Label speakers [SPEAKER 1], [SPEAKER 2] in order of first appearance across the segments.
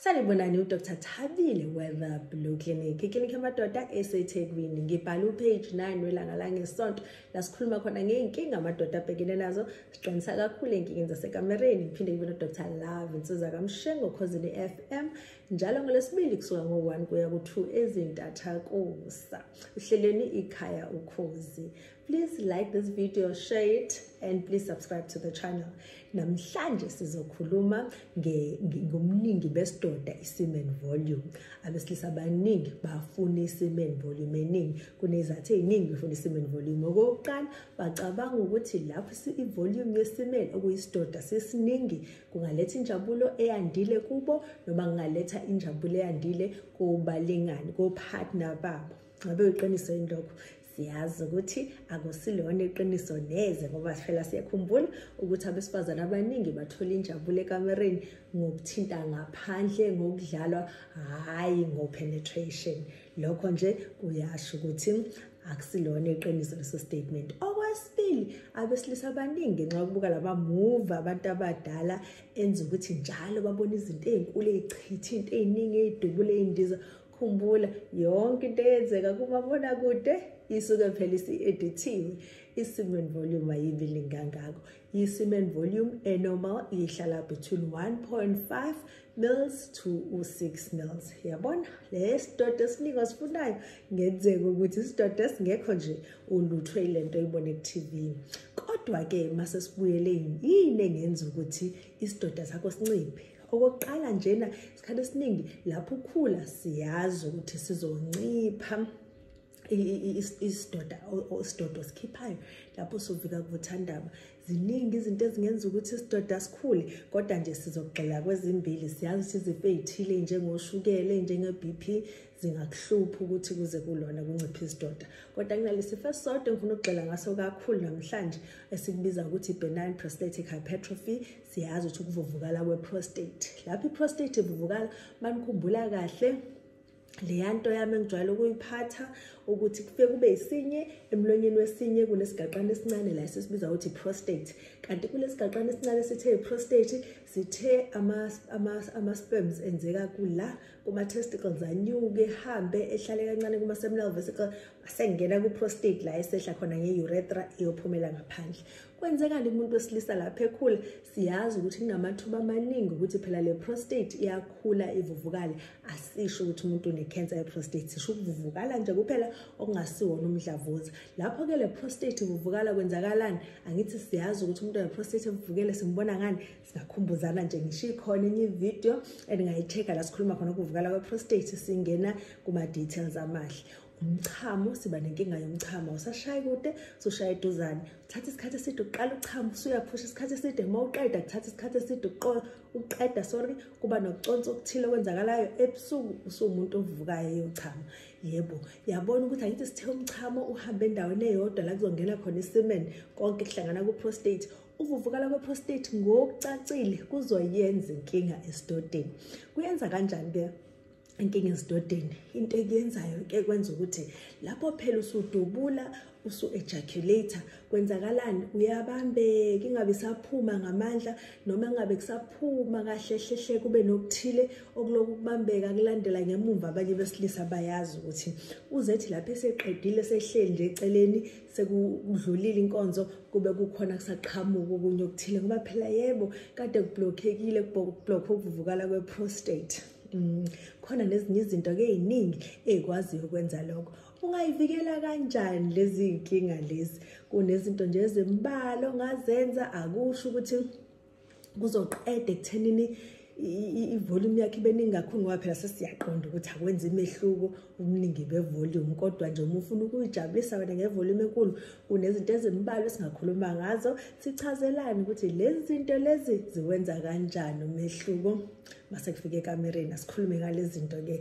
[SPEAKER 1] sanibonani udr thabile weather blue clinic iklinikhi yamadoda esethekwini ngibhala upage 9 welanga langesonto la sikhuluma khona ngey'nkinga amadoda abhekene nazo siqinisa kakhulu ey'nkingeni zasekamereni ngiphinde ngibe nodr love insiza kamshengo khozini f m njalo ngolwesibili kusuka ngo-1 kuya ku-2 ezintathakusa uhlelweni ikhaya ukhozi Please like this video, share it, and please subscribe to the channel. Namhlanje sizokhuluma ngomningi besidoda i-semen volume. Abesilisa abaningi bafuna i-semen volume eningi. Kunezathu eziningi befuna i-semen volume. Okokuqala, bacabanga ukuthi lapho i-volume ye-semen okuyisidoda sisiningi kungaletha injabulo eyandile kubo noma kungaletha injabulo eyandile kobalingani, kopartner babo. Ngabe uyiqiniso yini lokho? siyazi ukuthi akusilona iqiniso neze ngoba sifela siyakhumbula ukuthi abesifazane abaningi bathola injabulo ekamereni ngokuthinta ngaphandle ngokudlalwa hhayi ngo-penetration lokho nje kuyasho ukuthi akusilona iqiniso leso statement okwesibili abesilisa abaningi ngenxa yokubuka laba move abantu abadala enza ukuthi njalo babona izinto ey'nkulu ey'chitha into ey'ningi ey'dubula ey'ndiza khumbula yonke into eyenzeka kumabona kude isuke phela isi-edithiwe i-semen volume ayibi lingangako i-semen volume enormal ihlala between 1.5 mils to u-6 mils yabona le sidoda esiningi osifunayo ngenzeka ukuthi isidoda esingekho nje ulutho ile nto oyibona ku-tv kodwa-ke uma sesibuyele yini engenza ukuthi isidoda sakho sinciphe okokuqala njena isikhathi esiningi lapho ukhula siyazi ukuthi sizoncipha isidoda isidodo sikhiphayo lapho sovika kuvuthandaba ziningi izinto ezingenza ukuthi isidoda sikhule kodwa nje sizogxila kwezimbili siyazi ukuthi izifo ey'thile njengoshukele njenge-b p zingakuhlupha ukuthi kuze kulona kuncipha isidoda kodwa kunalesifo esisodwa engifuna ukugxila ngaso kakhulu namhlanje esikubiza ukuthi i-benign prostatic hypertrophy siyazi ukuthi ukuvuvukala kwe-prostate lapho i-prostate ivuvukala manikhumbula kahle leya nto yami engijwayele ukuyiphatha ukuthi kufike kube yisinye emlonyeni wesinye kunesigaxana esincane la sesibiza ukuthi prostate kanti kulesigaxana esincane sithe prostate sithe ama ama ama sperms enzeka kula kuma-testicles anyuke ehambe ehlale kancane kuma-seminal vesicle asengena ku-prostate la esehla khona nge-uretra iyophumela ngaphandle kwenzekani umuntu wesilisa lapho ekhula siyazi ukuthi kunamathuba amaningi ukuthi phela le prostate iyakhula ivuvukale asisho ukuthi umuntu unekhensa ye-prostate sisho ukuvuvukala nje kuphela okungasiwona umdlavuza lapho-ke le prostate ivuvukala kwenzakalani angithi siyazi ukuthi umuntu one-prostate evuvukele simbona ngani ngakhumbuzana nje ngisho ikhona enye ivideo endingayicheka la sikhuluma khona ukuvukala kweprostate singena kuma-details amahle umchamo siba nenkinga yomchamo usashaye kude usushaya eduzane uthatha isikhathi eside uqala uchamo usuyaphusha isikhathi eside uma uqeda kuthatha isikhathi eside uqeda sorry kuba nokuconsa okuthile okwenzakalayo ebusuku usuwumuntu ovukayo eyochama yebo yabona ukuthi angithi sithe umchamo uhambe endaweni eyodwa la kuzongena khona isemen konke kuhlangana ku-prostate Ukuvuvukala kweprostate ngokucacile kuzoyenza inkinga esidodeni. Kuyenza kanjani ke? inkinga esidodeni into ekuyenzayo ke kwenza ukuthi lapho phela usudubula usu-ejaculator kwenzakalani uyabambeka ingabe isaphuma ngamandla noma ngabe kusaphuma kahle hlehle kube nokuthile okuloku kubambeka kulandela ngemumva abanye besilisa bayazi ukuthi uzethi lapho eseqedile sehleli nje eceleni sekudlulile inkonzo kube kukhona kusaqhamuka okunye okuthile ngoba phela yebo kade kublokhekile kublokhwe ukuvuvukala kwe-prostate um khona nezinye izinto ke yiningi eyikwaziyo ukwenza lokho ungayivikela kanjani lezi y'nkinga lezi kunezinto nje ezimbalwa ongazenza akusho ukuthi kuzoqeda ekuthenini ivolume yakhe ibe ningi kakhulu ngoba phela sesiyaqonda ukuthi akwenza imehluko umningi bevolume kodwa nje uma ufuna ukuyijabulisa wena ngevolume enkulu kunezinto ezimbalwa esingakhuluma ngazo sichazelani ukuthi lezi zinto lezi ziwenza kanjani umehluko mase kufika ekamereni asikhulume ngalezi zinto-ke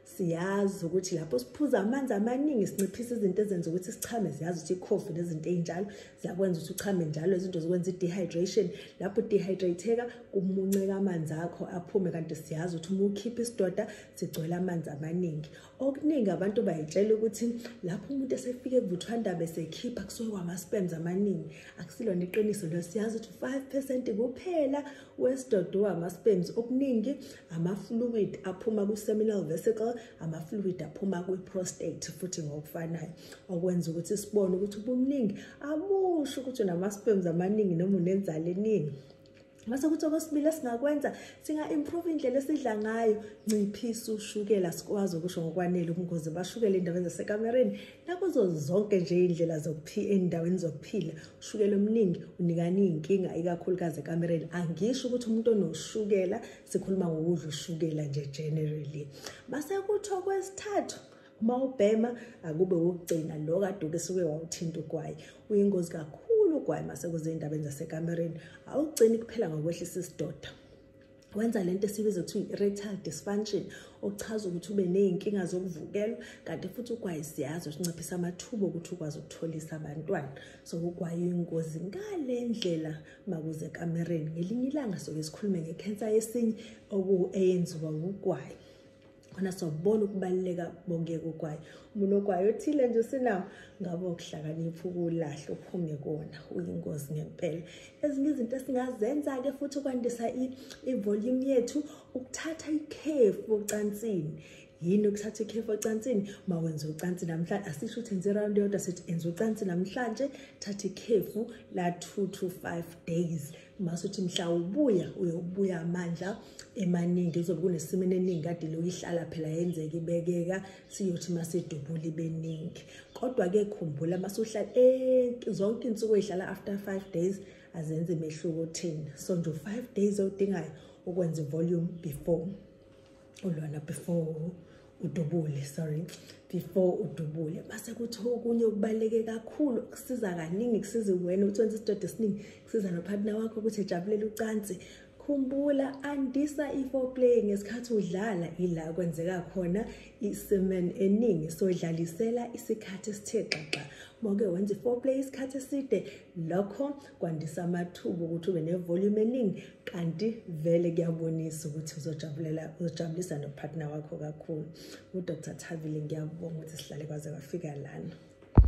[SPEAKER 1] siyazi ukuthi lapho siphuza amanzi amaningi sinciphisa izinto ezenza ukuthi sichame ziyazi ukuthi ikhofi nezinto ey'njalo ziyakwenza ukuthi uchame njalo izinto zikwenza i-dehydration lapho udehydratheka kumunceka amanzi akho aphume kanti siyazi ukuthi uma ukhipha isidoda sigcwele amanzi amaningi okuningi abantu bayitshela ukuthi lapho umuntu esefike kuvuthwandaba esekhipha kusuke kwama-spems amaningi akusilona iqiniso leyo siyazi ukuthi u-five percent kuphela wesidodowa ama-spams okuningi ama-fluid aphuma ku-seminal vesicle ama-fluid aphuma kwi-prostate futhi ngokufanayo okwenza ukuthi sibone ukuthi ubuningi amusho ukuthi unama-spams amaningi noma unenzalo eningi mase kuthi okwesibili esingakwenza singa-improve indlela esidla ngayo nciphisa ushukela sikwazi ukusho ngokwanele ubungozi bashukela endaweni zasekamereni nakuzo zonke nje iy'ndlela zokuphila ey'ndaweni zokuphila ushukela omningi unikani iy'nkinga ikakhulukazi ekamereni angisho ukuthi umuntu onoshukela sikhuluma ngokudla ushukela nje generally base kutho kwesithathu uma ubhema akube wokugcina lo kade uke suke wawuthinta ugwayi uyingozi kakhulu ugwayi uma sekuzey'ndabeni zasekamereni awugcini kuphela ngokwehlisa isidoda wenza lento esibiza kuthiwa i-erectile dysfunction okuchaza ukuthi ube ney'nkinga zokuvukelwa kanti futhi ugwayi siyazi sinciphisa amathuba okuthi ukwazi ukutholisa abantwana so ugwayi uyingozi ngale ndlela makuze kamereni ngelinye ilanga soke sikhulume ngekhensa yesinye okuwu-eyenziwa wugwayi khona sobona ukubaluleka bongeke ukwayo umuntu okwayo othile nje usinawo ngabe ukuhlakanipha ukulahle uphume kona uyingozi ngempela ezinye izinto esingazenza-ke futhi ukwandisa ivolume yethu ukuthatha ikhefu ocansini yini ukuthatha ikhefu ocansini uma wenza ucansi namhlanje asisho ukuthi enze irawundi yodwa sithi enza ucansi namhlanje thatha ikhefu la-two to five days mase uthi mhla ubuya uyobuya amandla emaningi uzobe kunesimini eningi kade loyihlala phela yenzeka ibekeka siyothi masedubula ibeningi kodwa-ke khumbula masuhlala eh, zonke insuku eyihlala after five days azenze imehluko thina so nje u-five days odingayo ukwenza ivolume before ulona before udubule sorry before udubule base kuthi okunye okubaluleke kakhulu kusiza kaningi kusiza wena ukuthi wenze isidodo esiningi kusiza nopartner wakho ukuthi ejabulele ucansi khumbula andisa i-foreplay ngesikhathi udlala ila kwenzeka khona i-semen eningi so dlalisela isikhathi esithe xaxa moke wenza i-foreplay isikhathi eside lokho kwandisa amathuba ukuthi ube nevolume eningi kanti vele kuyabonisa ukuthi uzojabulela uzojabulisa nopartner wakho kakhulu udr thabile ngiyabonga ukuthi sihlale kwaze kwafika lana